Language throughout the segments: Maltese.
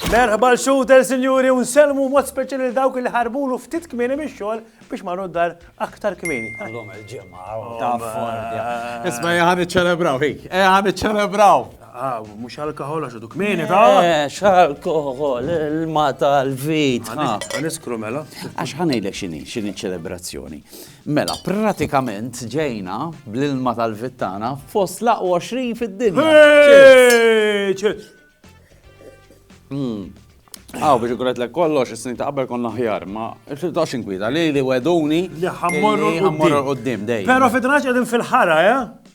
Merħba l-xuter, sinjuri, un selmu mod speċjali dawk li ħarbulu ftit kmieni mix-xogħol biex ma noddar aktar kmieni. Għallum il-ġimgħa, ta' forja. Isma' ħan iċċelebraw, ħik, ħan iċċelebraw. Ah, mux alkohol għax duk mini ta' Ex alkohol, il-ma tal-vit. Għaniskru mela. Għax ħanejlek xini, xini ċelebrazzjoni. Mela, pratikament ġejna bl-ilma tal-vittana fost laqwa 20 fid-dinja. Għaw, biex għuret l kollox, s-snin ta' qabel konna ħjar, ma xiltax inkwita li li weduni li ħammorru l-qoddim dej. Pero fitnax għedin fil-ħara, ja? Eh?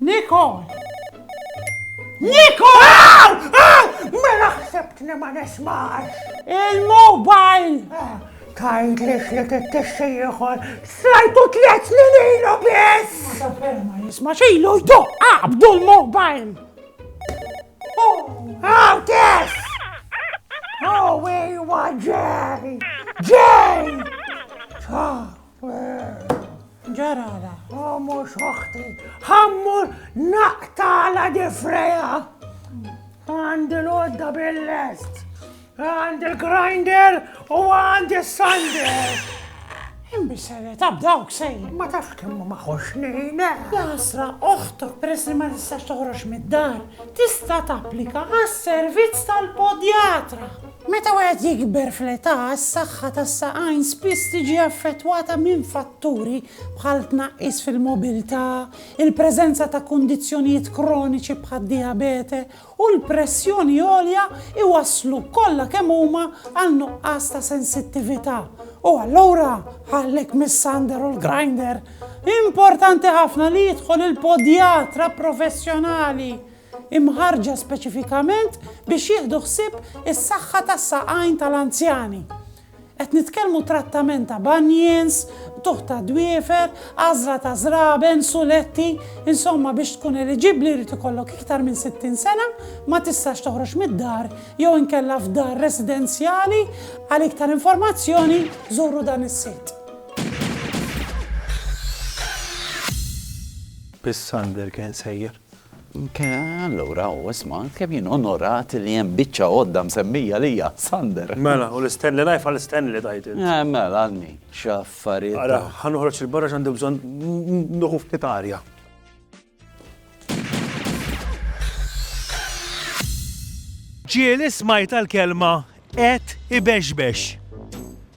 Nicole! Nicole! Mela ħsebt li ma nismax! Il-mobile! Tajt li xlet it-tixxi ieħor, srajtu tliet snin ilu biss! Ma jisma xilu jduq qabdu l-mobile! Għaw tess! Oh, wejwa ġej! Ġej! Ġarala. Oh, mux oħti. Ħammur naqtala difreja. Għandi l-odda bil-lest. Għandi l-grinder u għandi s-sander. Imbissere, tab dawk sej. Ma tafx kemmu ma xoxnina. Jasra, oħtok peress li ma tistax toħroġ mid-dar, tista' tapplika għas-servizz tal-podjatra. Meta wieħed jikber fl-età, is-saħħa tas-saqajn spiss tiġi affettwata minn fatturi bħal tnaqqis fil-mobilità, il-preżenza ta' kundizzjonijiet kroniċi bħad-dijabete u l-pressjoni għolja jwasslu kollha kemm huma għal nuqqas ta' sensittività. U allura, ħallek mis-sander u l-grinder, importanti ħafna li jidħol il-podjatra professjonali! imħarrġa speċifikament biex jieħdu ħsieb is-saħħa tas-saqajn tal-anzjani. Qed nitkellmu trattament ta' bunions, qtugħ ta' dwiefer, għażla ta' żraben, suletti, insomma biex tkun eliġibbli jrid ikollok iktar minn 60 sena, ma tistax toħroġ mid-dar jew inkella f'dar residenzjali, għal iktar informazzjoni żuru dan is-sit. Bis-Sander kien sejjer. Allura u isma' kemm jien onorat li hemm biċċa għodda msemmija lija, Sander. Mela, u l-istenni life għall-istenni li tajt int. Eh, mela, għanni, x'affarijiet. Ara, ħa noħroġ 'il barra x'għandi bżonn nieħu ftit arja. Ġieli smajt għall-kelma qed ibexbex.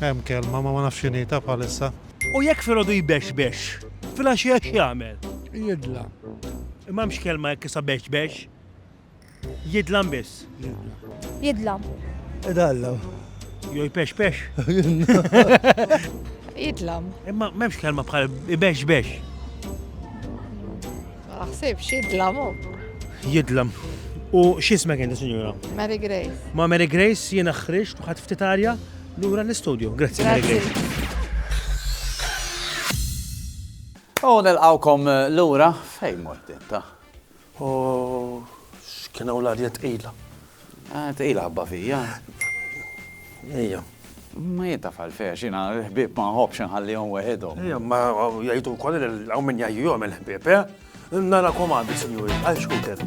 Hemm kelma ma ma nafx x'inhi ta' bħalissa. U jekk filgħodu jbexbex, filgħaxija x'jagħmel? Jidla. Imma hemmx kelma jekk issa bexbex. Jidlam biss. Jidlam. Idallam. Jo jpexpex. Jidlam. Imma m'hemmx kelma bħal ibexbex. Ma naħsibx, jidlam u. Jidlam. U x'ismek inti, Sinjura? Mary Grace. Ma' Mary Grace jiena ħriġt u ħadd ftit arja lura l-istudju. Grazzi Mary Grace. U nilqawkom eh, lura fejn mort inta. U x'kienu l-arja tqila. Ah, tqila ħabba fija. Ejja. Ma jien taf għalfejn, xina l-ħbib ma nħobbx nħallihom weħidhom. Ejja, ma jgħidu wkoll li hawn min jgħajjihom il-ħbib, eh? Nara komandi, sinjuri, għal xkuter.